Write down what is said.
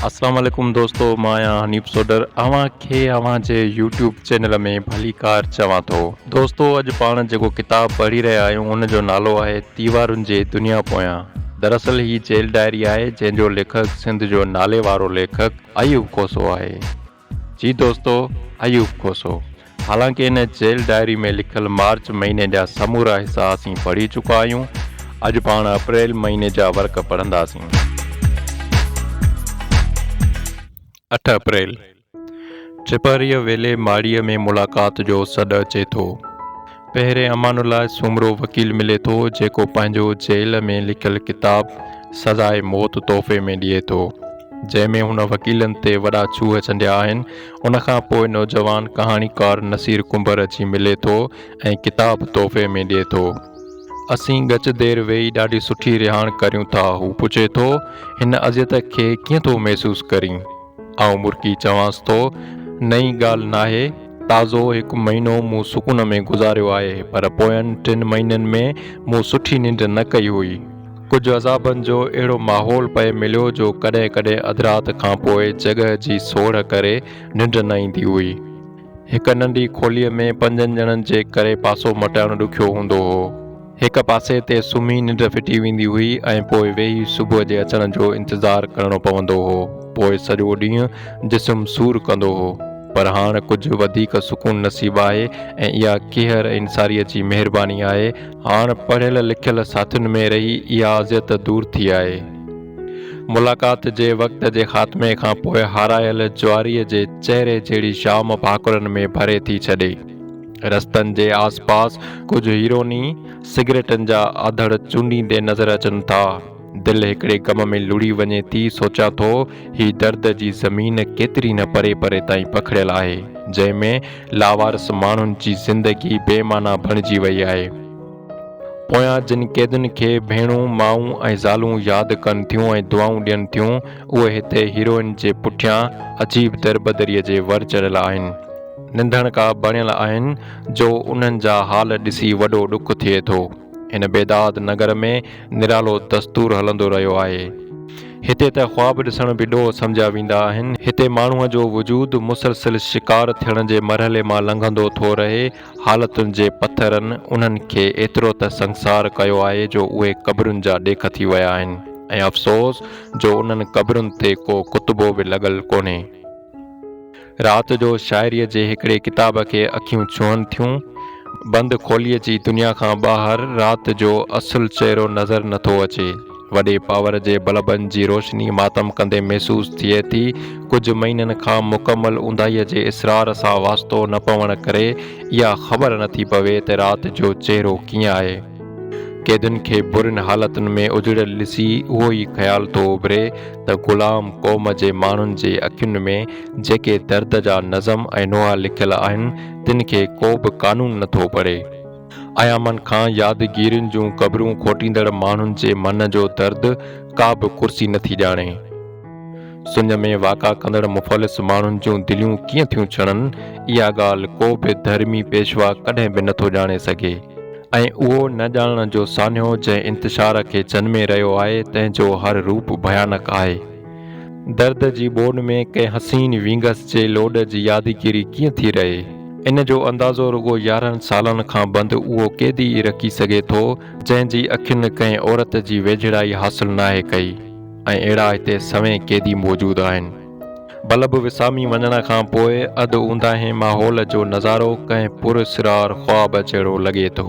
اسلام عليڪم دوستو مان آهيان حنيف سوڊر اوهان کي اوهان جي يوٽيوب چينل ۾ ڀليڪار چوان ٿو دوستو اڄ پاڻ جيڪو ڪتاب پڙهي رهيا آهيون ان جو نالو آهي تيوارن جي دنيا پويان دراصل هي جيل ڊائري آهي جنهن جو ليکڪ سنڌ جو نالي وارو ليکڪ ايوب کوسو آهي جي دوستو ايوب کوسو حالانڪه ان جيل ڊائري ۾ لکيل مارچ مهيني جا سمورا حصا اسين پڙهي چڪا آهيون اڄ پاڻ اپريل مهيني جا ورق پڙهنداسين. اٺ اپريل، ڇپريء ويلي ماڙيء ۾ ملاقات جو سڏ اچي ٿو. پهرين امان الله سومرو وڪيل ملي ٿو جيڪو پنهنجو جيل ۾ لکيل ڪتاب سزاء موت تحفي ۾ ڏئي ٿو جنهن ۾ هن وڪيلن تي وڏا ڇوهه چنڊيا آهن ان کان پوء نوجوان ڪهاڻيڪار نصير ڪنڀر اچي ملي ٿو ۽ ڪتاب تحفي ۾ ڏئي ٿو. اسين ڳچ دير ويهي ڏاڍي سٺي رهاڻ ڪريون ٿا هو پڇي ٿو هن اذيت کي ڪيئن ٿو محسوس ڪرين؟ آئون مرڪي چوانس ٿو، نئين ڳالهه ناهي، تازو هڪ مهينو مون سڪون ۾ گذاريو آهي، پر پوين ٽن مهينن ۾ مون سٺي ننڊ نه ڪئي هئي. ڪجهه عذابن جو اهڙو ماحول پئي مليو جو ڪڏهن ڪڏهن اڌ رات کانپوء جڳهه جي سوڙهه ڪري ننڊ نه ايندي هئي. هڪ ننڍي کوليء ۾ پنجن ڄڻن جي ڪري پاسو مٽائڻ ڏکيو هوندو هو. هڪ پاسي تي سمهي ننڊ ڦٽي ويندي هئي ۽ پوء ويهي صبح جي اچڻ جو انتظار ڪرڻو پوندو هو. پوء سڄو ڏينهن جسم سور ڪندو هو. پر هاڻ ڪجهه وڌيڪ سڪون نصيب آهي ۽ اها ڪيهر ۽ انصاريء جي مهرباني آهي. هاڻ پڙهيل لکيل ساٿين ۾ رهي اها اذيت دور ٿي آهي. ملاقات جي وقت جي خاتمي کان پوء هارايل جواريء جي چهري جهڙي شام ڀاڪرن ۾ ڀري ٿي ڇڏي. رستن جي آس پاس ڪجهه هيروني سگريٽن جا آڌڙ چونڊيندي نظر اچن ٿا. دل هڪڙي غم ۾ لڙهي وڃي ٿي، سوچان ٿو هي درد جي زمين ڪيتري نه پري پري تائين پکڙيل آهي، جنهن ۾ لاوارث ماڻهن جي زندگي بي معنيٰ بڻجي وئي آهي. پويان جن قيدين کي ڀيڻون، مائون ۽ زالون ياد ڪن ٿيون ۽ دعائون ڏين ٿيون، اهي هتي هيروئن جي پٺيان عجيب دربدريء جي ور چڙهيل آهن. ننڌڻڪا بڻيل آهن جو انهن جا حال ڏسي وڏو ڏک ٿئي ٿو. هن بيداد نگر ۾ نرالو دستور هلندو رهيو آهي. هتي ته خواب ڏسڻ به ڏوهه سمجهيا ويندا آهن. هتي ماڻهوء جو وجود مسلسل شڪار ٿيڻ جي مرحلي مان لنگهندو ٿو رهي. حالتن جي پٿرن انهن کي ايترو ته سنگسار ڪيو آهي جو اهي قبرن جا ڏيک ٿي ويا آهن ۽ افسوس جو انهن قبرن تي ڪو ڪتبو به لڳل ڪونهي. رات جو شاعريء جي هڪڙي ڪتاب کي اکيون ڇهن ٿيون. بند کوليء جي دنيا کان ٻاهر رات جو اصل چهرو نظر نٿو اچي. وڏي پاور جي بلبن جي روشني ماتم ڪندي محسوس ٿئي ٿي. ڪجهه مهينن کان مڪمل اونداهيء جي اسرار سان واسطو نه پوڻ ڪري اها خبر نه ٿي پوي ته رات جو چهرو ڪيئن آهي. قيدين کي برين حالتن ۾ اجڙيل ڏسي اهو ئي خيال ٿو اڀري ته غلام قوم جي ماڻهن جي اکين ۾ جيڪي درد جا نظم ۽ نوحا لکيل آهن، تن کي ڪو به قانون نه ٿو پڙهي. ايامن کان يادگيرين جون قبرون کوٽيندڙ ماڻهن جي من جو درد ڪا به ڪرسي نٿي ڄاڻي. سڃ ۾ واڪا ڪندڙ مفلس ماڻهن جون دليون ڪيئن ٿيون ڇڻن، اها ڳالهه ڪو به ڌرمي پيشوا ڪڏهن به نٿو ڄاڻي سگهي ۽ اهو نه ڄاڻڻ جو سانحو جنهن انتشار کي جنمي رهيو آهي، تنهن جو هر روپ ڀيانڪ آهي. درد جي ٻوڏ ۾ ڪنهن حسين وينگس جي لوڏ جي يادگيري ڪيئن ٿي رهي؟ ان جو اندازو رڳو يارهن سالن کان بند اهو قيدي ئي رکي سگهي ٿو، جنهن جي اکين ڪنهن عورت جي ويجهڙائي حاصل ناهي ڪئي ۽ اهڙا هتي سوين قيدي موجود آهن. بلب وسامي وڃڻ کان پوء اڌ اونداهين ماحول جو نظارو ڪنهن پراسرار خواب جهڙو لڳي ٿو.